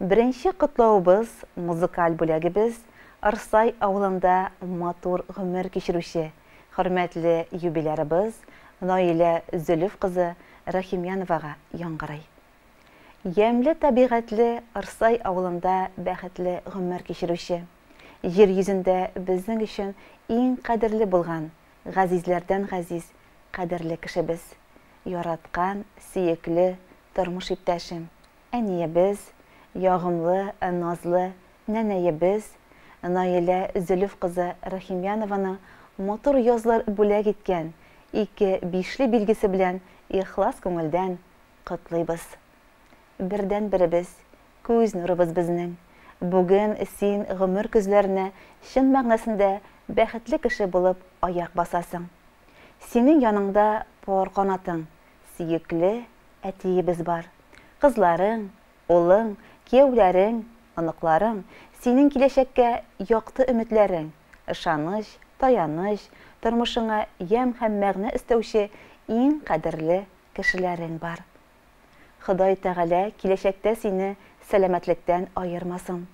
Беренче котлавыбыз музыкаль бүләгебез Ырсай авылында матур гомер кичерүче хөрмәтле юбилярыбыз Наилә Зөлеф кызы Рәхимяновага яңгырый. Ямьле табигатьле Ырсай авылында бәхетле гомер кичерүче, җир йөзендә безнең өчен иң кадерле булган, газизләрдән газиз, кадерле кешебез, яраткан, сөекле тормыш иптәшем, Әниебез, ягымлы, назлы нәнәебез Наилә Зөлеф кызы Рахимьянованың матур язлар бүләк иткән ике бишле билгесе белән ихлас күңелдән котлыйбыз. Бердәнберебез, күз нурыбыз безнең. Бүген син гомер көзләренә чын мәгънәсендә бәхетле кеше булып аяк басасың. Синең яныңда пар канатың, сөекле әтиебез бар. Кызларың, улың, кияүләрең, оныкларың, синең киләчәккә якты өметләрең, ышаныч, таяныч, тормышыңа ямь һәм мәгънә өстәүче иң кадерле кешеләрең бар. Ходай Тәгалә киләчәктә сине сәламәтлектән аермасын.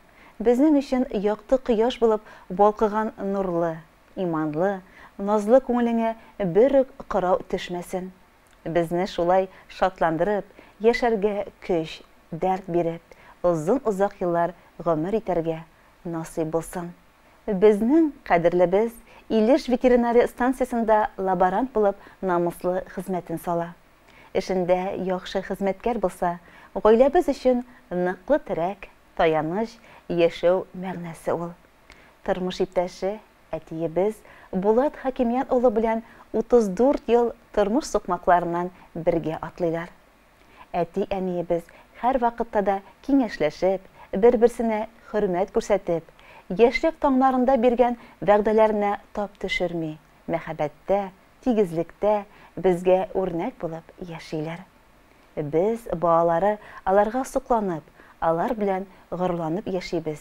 Безнең өчен якты кояш булып балкыган нурлы, иманлы, назлы күңелеңә бер үк кырау төшмәсен. Безне шулай шатландырып, яшәргә көч, дәрт биреп, озын-озак еллар гомер итәргә насыйп булсын. Безнең кадерлебез Илеш ветеринария станциясендә лаборант булып намуслы хезмәтен сала. Эшендә яхшы хезмәткәр булса, гаиләбез өчен ныклы терәк, таяныч, яшәү мәгънәсе ул. Тормыш иптәше, әтиебез Булат Хәкимият улы белән 34 ел тормыш сукмакларыннан бергә атлыйлар. Әти-әниебез һәрвакытта да киңәшләшеп, бер-берсенә хөрмәт күрсәтеп, яшьлек таңнарында биргән вәгъдәләренә тап төшерми, мәхәббәттә, тигезлектә безгә үрнәк булып яшиләр. Без, балалары, аларга сокланып, алар белән горурланып яшибез,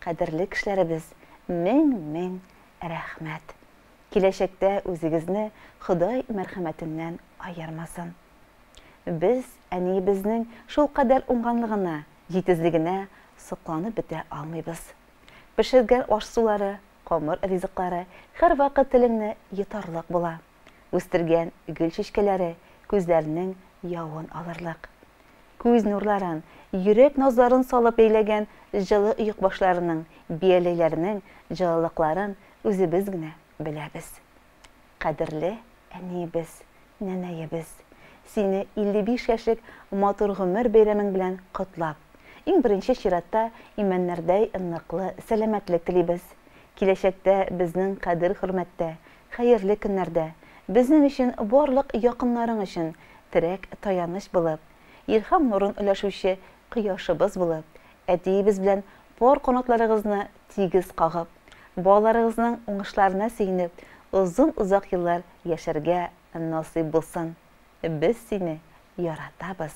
Кадерле кешеләребез, мең-мең рәхмәт! Киләчәктә үзегезне Ходай мәрхәмәтеннән аермасын! Без әниебезнең шулкадәр уңганлыгына, җитезлегенә сокланып бетә алмыйбыз. Пешергән аш-сулары, камыр ризыклары һәрвакыт телеңне йотарлык була. Үстергән гөл чәчкәләре күзләрнең явын алырлык. Күз нурларын, йөрәк назларын салып бәйләгән җылы оекбашларының, бияләйләрнең җылылыкларын үзебез генә беләбез. Кадерле әниебез, нәнәебез, сине 55 яшьлек матур гомер бәйрәмең белән котлап, иң беренче чиратта имәннәрдәй ныклы сәламәтлек телибез. Киләчәктә безнең кадер-хөрмәттә, Хәерле көннәрдә, безнең өчен, барлык якыннарың өчен терәк, таяныч булып, илһам нурын өләшүче кояшыбыз булып, әтиебез белән пар канатларыгызны тигез кагып, балаларыгызның уңышларына сөенеп, озын-озак еллар яшәргә насыйп булсын. Без сине яратабыз,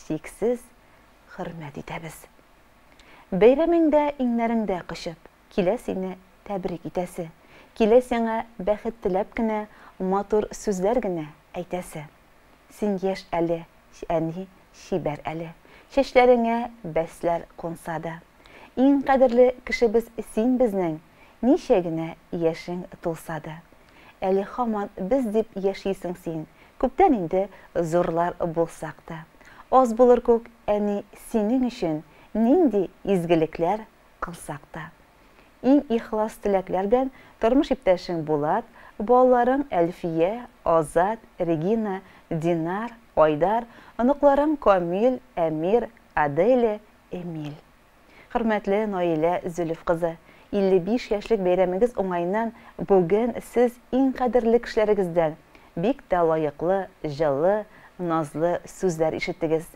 чиксез хөрмәт итәбез. Бәйрәмеңдә иңнәреңдә кочып. Килә сине тәбрик итәсе. Килә сиңа бәхет теләп кенә Матур сүзләр генә әйтәсе. Син яшь әле, әни, чибәр әле. Чәчләреңә бәсләр кунса да. Иң кадерле кешебез син безнең, Ничә генә яшең тулса да. Әле һаман без дип яшисең син, Күптән инде зурлар булсак та. Аз булыр күк, әни, синең өчен Нинди изгелекләр Кылсак та. Иң ихлас теләкләр белән тормыш иптәшең Булат, балаларың Әлфия, Азат, Регина, Динар, Айдар, оныкларың Камил, Әмир, Аделя, Эмиль. Хөрмәтле Наилә Зөлеф кызы, 55 яшьлек бәйрәмегез уңаеннан бүген сез иң кадерле кешеләрегездән бик тә лаеклы, җылы, назлы сүзләр ишеттегез.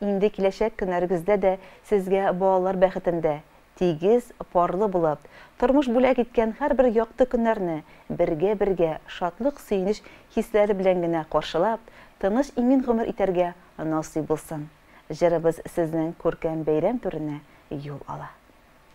Инде киләчәк көннәрегездә дә сезгә балалар бәхетендә, тигез, парлы булып, тормыш бүләк иткән һәрбер якты көннәрне бергә-бергә шатлык-сөенеч хисләре белән генә каршылап, тыныч-имин гомер итәргә насыйп булсын! Җырыбыз сезнең күркәм бәйрәм түренә юл ала.